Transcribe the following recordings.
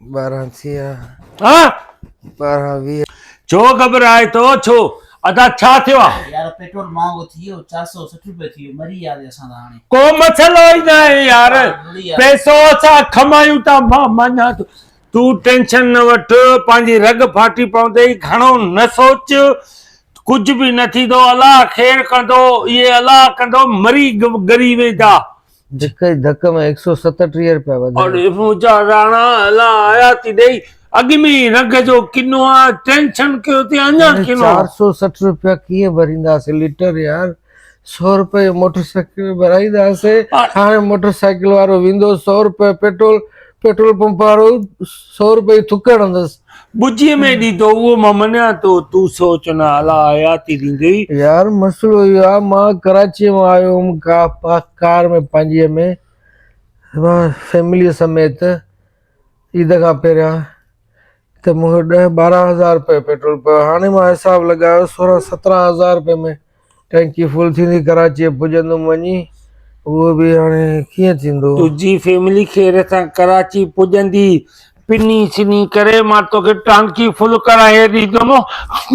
ٻارهن ٿيا ٻارهن ويهه ڇو گهٻرائي ٿو ڇو ادا ڇا ٿيو آ. يار پيٽرول مهانگو ٿي ويو چار سؤ سٺ روپيه ٿي ويو مري يا دي اسان ته هاڻي. ڪو مسئلو ئي ناهي يار پئسو اسان کمايون ٿا مان مڃان ٿو تون ٽينشن نه وٺ پنهنجي رڳ ڦاٽي پوندي گهڻو نه سوچ ڪجهه به نه ٿيندو الله خير ڪندو اهي الله ڪندو مري ڳري ويندا هڪ ئي ڌڪ ۾ هڪ سؤ ستٽيهه روپيا وڌايا. اور مجا راڻا الا آياتي ڏئي اڳ ۾ ئي رڳ جو ڪنو آ ٽينشن ڪيو تي اڃا ڪنو. چار سؤ سٺ روپيا ڪيئن ڀرينداسين ليٽر يار سؤ روپئي جو موٽر سائيڪل ڀرائينداسين هاڻي موٽر سائيڪل وارو ويندو سؤ روپئي پيٽرول پيٽرول پمپ وارو سؤ روپئي ٿڪ هڻندس. ٻجي ۾ ڏي ٿو اهو مان مڃان ٿو تون سوچ نه اعليٰ حياتي ڏيندي. يار مسئلو اهو آ مان ڪراچيء مان آيو هوم ڪار ۾ پنهنجيء ۾ فيمليء سميت عيد کان پهريان ته مون کي ڏهه ٻارهن هزار روپيه پيٽرول پيو هاڻي مان حساب لڳايو سورهن سترهن هزار روپيه ۾ ٽينڪي فل ٿيندي ڪراچيء پڄندم وڃي اهو به هاڻي ڪيئن ٿيندو. تنهنجي فيملي خير سان ڪراچي پڄندي. پني سني ڪري مان توکي ٽانڪي فل ڪرائي ڏيندم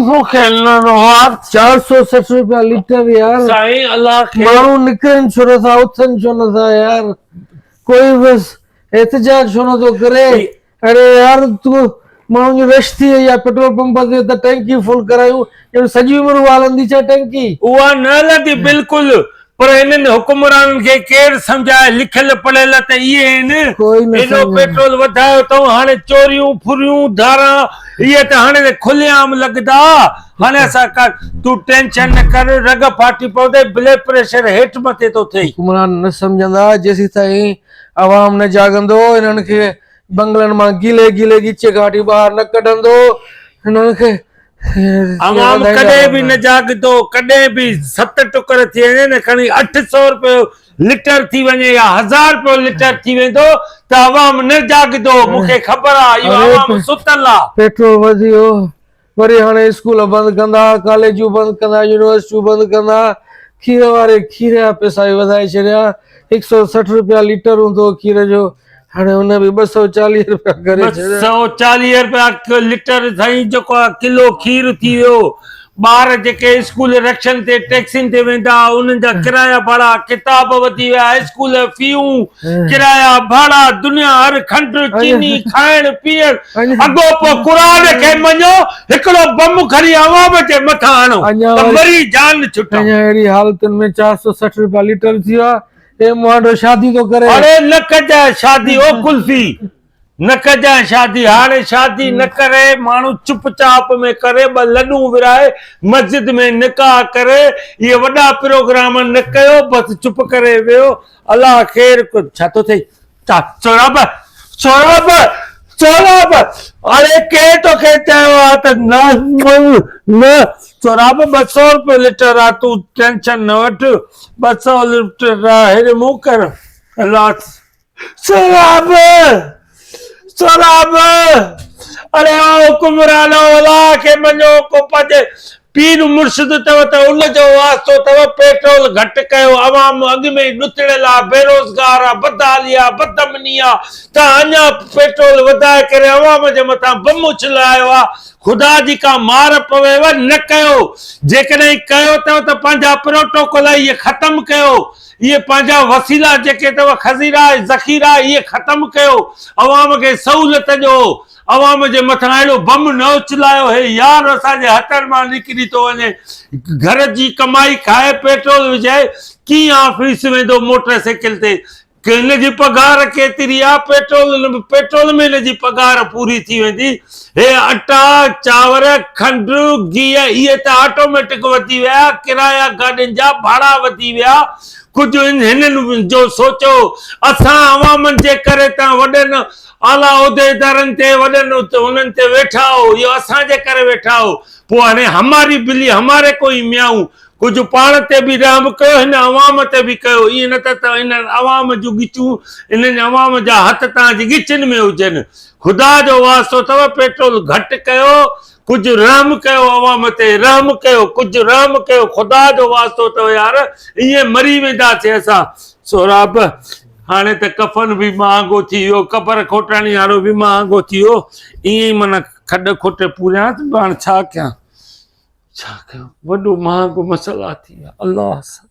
مون کي نه روئار. چار سؤ سٺ روپيا ليٽر يار. سائين الله خير. ماڻهو نڪرن ڇو نٿا اٿن ڇو نٿا يار ڪوئي بس احتجاج ڇو نٿو ڪري. اڙي يار تون ماڻهن جي رش ٿي وئي آ پيٽرول پمپ تي ته ٽينڪي فل ڪرايون ڄڻ سڄي عمر اها هلندي ڇا ٽينڪي. اها نه هلندي بلڪل پر هنن حڪمرانن کي ڪير سمجهائي لکيل پڙهيل ته اهي آهن ايڏو پيٽرول وڌايو اٿئون هاڻي چوريون ڦريون ڌاران اهي ته هاڻي ته کلي عام لڳندا هاڻي اسان ڪا تون ٽينشن نه ڪر رڳ ڦاٽي پوندي بلڊ پريشر هيٺ مٿي ٿو ٿئي. حڪمران نه سمجهندا جيسيتائين عوام نه جاڳندو، هنن کي بنگلن مان گيلي گيلي ڳچي گهاٽي ٻاهر نه ڪڍندو، هنن کي ائين عوام وڌائيندا ڪڏهن به رهندو. نه جاڳندو، ڪڏهن به ست ٽڪر ٿي وڃي نه کڻي اٺ سؤ رپيو لٽر ٿي وڃي يا هزار رپيو لٽر ٿي ويندو ته عوام نه جاڳندو، مون کي خبر آ اهو عوام ستل آ. پيٽرول وڌيو، وري هاڻي اسڪول بند ڪندا، ڪاليجون بند ڪندا، يونيورسٽيون بند ڪندا، کير واري کير جا پئسا به وڌائي ڇڏيا، هڪ سؤ سٺ رپيا ليٽر هوندو هو کير جو، هاڻي ان به ٻه سؤ چاليهه رپيا ڪري ڇڏيا. ٻه سؤ چاليهه رپيا ليٽر سائين جيڪو ڪلو کير ٿي ويو، ٻار جيڪي اسڪول رڪشن تي ٽيڪسين تي ويندا هئا انهن جا ڪرايا ڀاڙا، ڪتاب وڌي ويا، اسڪول جون فيون، ڪرايا، ڀاڙا، دنيا هر کنڊ، چيني، کائڻ پيئڻ، اڳو پوء قرآن کي مڃو، هڪڙو بم کڻي عوام جي مٿان هڻو ته مري جان ڇٽون. اڃا اهڙي حالتن ۾ چار سؤ سٺ روپيا ليٽر ٿي ويو آهي. اي مهانڊو شادي ٿو ڪرين. اڙي نه ڪجانء شادي او ڪلفي. نه ڪجانء شادي هاڻي شادي نه ڪري ماڻهو چپ چاپ ۾ ڪري ٻه لڏون ورهائي مسجد ۾ نڪاح ڪري اهي وڏا پروگرام نه ڪيو بس چپ ڪري ويهو الله خير ڪن ڇا ٿو ٿئي سهراب سهراب سهراب اڙي ڪنهن توکي چيو آ ته نه نه سهراب ٻه سؤ روپيو لٽر آ تون ٽينشن نه وٺ ٻه سؤ لٽر آ هيڏي منهن ڪر الله سهراب! سهراب! اڙي او حڪمران اولا کي مڃو ڪو پنهنجي پير مرشد اٿو ته ان جو واسطو اٿو، پيٽرول گهٽ ڪيو، عوام اڳ ۾ ئي ڏتڙيل آ، بيروزگار آ، بدحالي آ، بدامني آ، توهان اڃا پيٽرول وڌائي ڪري عوام جي مٿان بم اڇلايو آ، خدا جي ڪا مار پويو، نه ڪيو، جيڪڏهن ڪيو اٿو ته پنهنجا پروٽوڪول اهي ختم ڪيو، اهي پنهنجا وسيلا جيڪي اٿئو خزيرا ۽ ذخيرا اهي ختم ڪيو عوام کي سهولت ڏيو عوام جي مٿان اهڙو بم نه اڇلايو هي يار اسان جي هٿن مان نڪري ٿو وڃي گهر جي ڪمائي کائي پيٽرول وجهائي ڪيئن آفيس ويندو موٽر سائيڪل تي هن جي پگهار ڪيتري آ پيٽرول پيٽرول ۾ هن جي پگهار پوري ٿي ويندي هي اٽا، چانور، کنڊ، گيهه اهي ته آٽوميٽڪ وڌي ويا، ڪرايا گاڏين جا ڀاڙا وڌي ويا، ڪجهه هنن جو سوچو، اسان عوامن جي ڪري تان وڏن اعليٰ عهديدارن تي وڏن انهن تي ويٺا آهو، اهو اسان جي ڪري ويٺا آهو، پوء هاڻي هماري بلي هماري ڪو هي ميائون، ڪجهه پاڻ تي به رحم به ڪيو هن عوام تي به ڪيو ائين نه ته ته هن عوام جون ڳچون هنن عوام جا هٿ توهان جي ڳچين ۾ هجن خدا جو واسطو اٿو پيٽرول گهٽ ڪيو ڪجهه رحم ڪيو عوام تي رحم ڪيو ڪجهه رحم ڪيو خدا جو واسطو اٿو يار ائين مري وينداسي اسان سهراب هاڻي ته ڪفن به مهانگو ٿي ويو قبر کوٽاڻي وارو به مهانگو ٿي ويو ائين معنی کڏ کوٽي پوريان هاڻي ڇا ڪيان ڇا ڪيو وڏو مهانگو مسئلا ٿي ويا الله سائين.